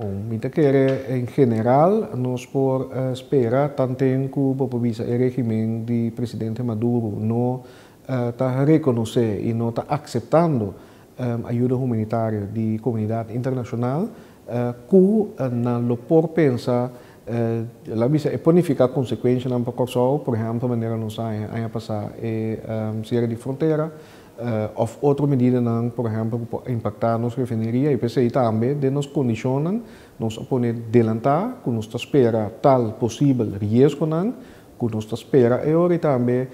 Bon, mi ta kere en general nos por uh, spera tanten ku bo por bisa e regimen di presidente Maduro no uh, ta rekonosé i no ta akseptando um ayuda humanitario di komunidat internashonal uh, ku nan lo por pensa uh, la mi bisa e ponifiká konsekuenshanan pa Kòrsou, por ehèmpel manera nos haña aña pasá e um siera di frontera. òf otro medidanan, por ehèmpel, ku por impaktá nos refineria i p'esei tambe den nos kondishonnan nos a pone delantá ku nos ta spera tal posibel riesgonan ku nos ta spera e ora i tambe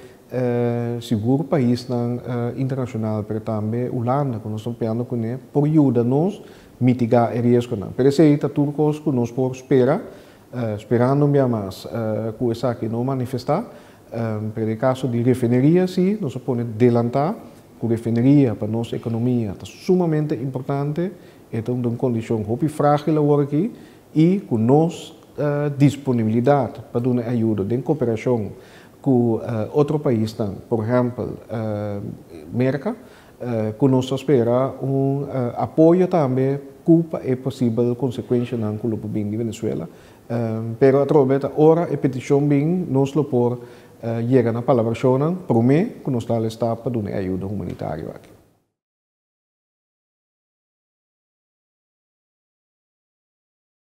sigur paisnan internashonal pero tambe Hulanda ku nos ta hopiando kuné por yuda nos mitigá e riesgonan. P'esei ta tur kos ku nos por spera Sperando un bia mas cu esaki no manifesta. Pero e caso di refineria si, nos a pone delanta cu refineria pa nos economia ta sumamente importante. E ta unda un condicion hopi fragil awor aki y cu nos disponibilidad pa duna ayudo den cooperacion cu otro paisnan, por ehempel Merca, Ku nos ta spera un apoyo tambe ku pa e posibel konsekuenshanan ku lo por bin di Venezuela. Pero atrobe ta ora e petishon bin nos lo por yega na palabrashonnan promé ku nos ta alistá pa duna e ayuda humanitario aki.